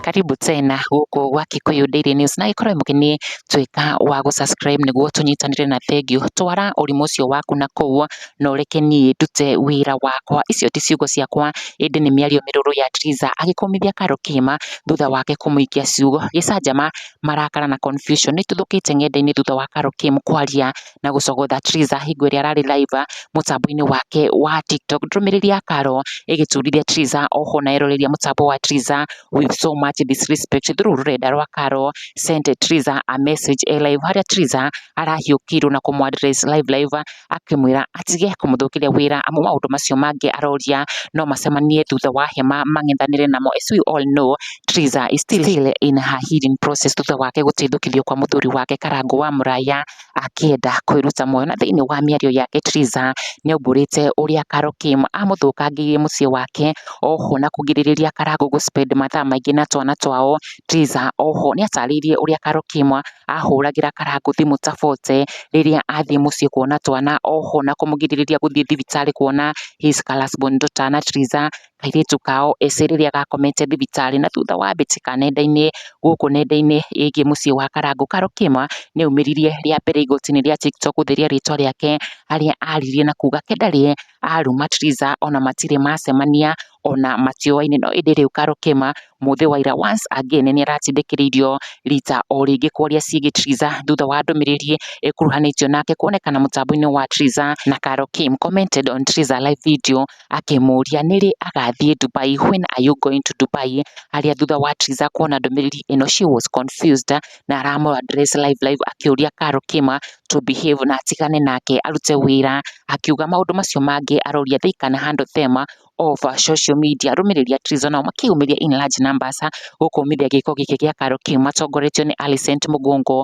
Karibu tena gũkũ gwa Kikuyu Daily News na ĩkorwo mũkeni tuĩka wa gũ subscribe nĩguo tũnyitanĩre na thengiũ twara ũrimũ ũcio waku na kũu na ũreke niĩ ndute wĩra wakwa. Icio ti ciugo ciakwa ĩndĩ nĩ mĩario mĩrũrũ ya Triza agĩkũmithia Karo kĩma thutha wake kũmũikia ciugo gĩcanjama, marakara na confusion nĩ ĩtuthũkĩte ng'enda-inĩ thutha wa Karo Kim kwaria na gũcogotha Triza hingo ĩrĩa ararĩ live mũtambo-inĩ wake wa TikTok. Ndũmĩrĩri ya Karo ĩgĩturithia Triza oho na ĩroreria mũtambo wa Triza with so much disrespect through rũrenda rwa Karo sent Triza a message e live harĩa Triza arahiũkĩirwo na kũmũ address live live akĩmwĩra atige kũmũthũkĩria wĩra amu maũndũ macio mangĩ aroria no macemanie thutha wa hema mang'ethanĩre namo as we all know Triza is still in her healing process thutha wake gũteithũkithio kwa mũthuri wake Karangũ wa Mũraya akĩenda kwĩruta muoyo. Na thĩiniĩ wa mĩario yake Triza nĩ aumbũrĩte ũrĩa Carol Kim amũthũkangĩirie mũciĩ wake, oho na kũgirĩrĩria Karangũ gũ spend mathaa maingĩ na twana twao. Triza oho nĩ atarĩirie ũrĩa Carol Kim ahũragĩra Karangũ thimũ ta bote rĩrĩa athiĩ mũciĩ kuona twana, oho na kũmũgirĩrĩria gũthiĩ thibitarĩ kuona his first born daughter. Na Triza kairĩtu kao ĩcĩ rĩrĩa gakomete thibitarĩ. Na thutha wa mbĩtĩka nenda-inĩ gũkũ nenda-inĩ ĩgiĩ mũciĩ wa Karangũ, Carol Kĩma nĩ aumĩririe rĩa mbere igoti-inĩ rĩa TikTok gũtheria rĩtwa rĩake harĩa aririe na kuga ke ndarĩ aruma Triza ona matirĩ macemania ona matioaine. No ĩndĩ rĩu Carol Kĩma mũthĩ wa ira once again nĩ aratindĩkĩrĩirio rita o rĩngĩ kwaria ciĩgiĩ Triza thutha wa ndũmĩrĩri ĩkuruhanĩtio nake kuonekana mũtambo-inĩ wa Triza na Carol Kim commented on Triza live video. akĩmũria nĩ rĩ agathiĩ Dubai, when are you going to Dubai? harĩa thutha wa Triza kuona ndũmĩrĩri ĩno she was confused na aramũ address live live akĩũria Karo Kima to behave na atigane nake arute wĩra akiuga maũndũ macio mangĩ aroria they can handle them of social media arũmĩrĩri a Triza nao makĩyumĩria in large numbers gũkũmithia gĩko gĩkĩ gĩa Karo Kima matongoretio nĩ Alicent Mũgongo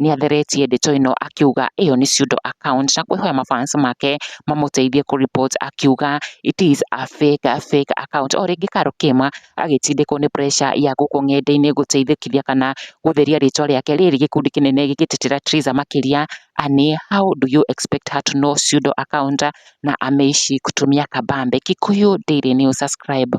nĩatheretie ndeto ĩno akiuga ĩyo nĩ pseudo account na kwĩhoya ma fans make mamũteithie kũ report akiuga it is a fake, a fake account. O rĩngĩ Karo Kĩma agĩtindĩkwo nĩ pressure ya gũkũ ng'enda-inĩ gũteithĩkithia kana gũtheria rĩtwa rĩake rĩrĩ gĩkundi kĩnene gĩgĩtetera Triza makĩria ani how do you expect her to know pseudo account na ameishi kutumia kabambe. Kikuyu Daily News subscribe.